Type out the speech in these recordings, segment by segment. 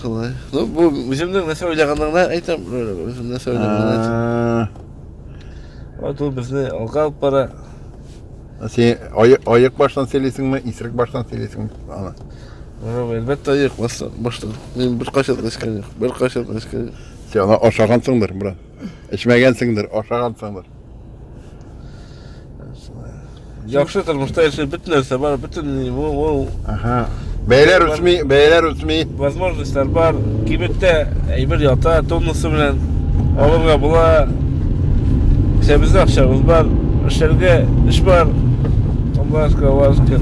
Шулай. Ну, бу үземнең нәрсә уйлаганлыгына әйтәм, үзем нәрсә уйлаганлыгына әйтәм. Вот ул безне алга алып бара. Сен аяк баштан сөйлисеңме, исерек баштан сөйлисеңме аны? Әлбәттә, аяк баштан. Мин бер кайчан да эчкән юк, бер кайчан да эчкән юк. Сен аны ашагансыңдыр, брат. Эчмәгәнсеңдер, ашагансыңдыр. Яхшы тормышта яшәп бөтен нәрсә бар, бөтен ул Ага. Бәяләр үсми, бәяләр үсми. Возможностьлар бар. Кибеттә әйбер ята, тоннасы белән алырга була. Кесәбездә акчабыз бар, эшләргә эш бар. Аллашка, аллашка.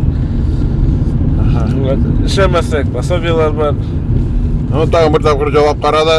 Ага. Эшләмәсәк, пособиелар бар. Ну, тагын бер тапкыр җавап карады.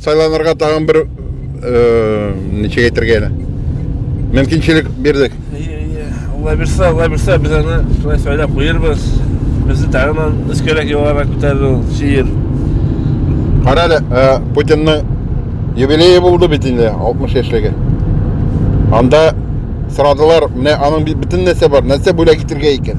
Сайланырга тагын бер ничек әйтергә әле? Мөмкинчелек бирдек. Алла бирсә, Алла бирсә, без аны шулай сайлап куербыз. Безне тагын өскәрәк югарырак күтәрер ул шиир. Кара әле, Путинның юбилее булды бит инде, 60 яшьлеге. Анда сорадылар, менә аның бөтен нәрсә бар, нәрсә бүләк итергә икән?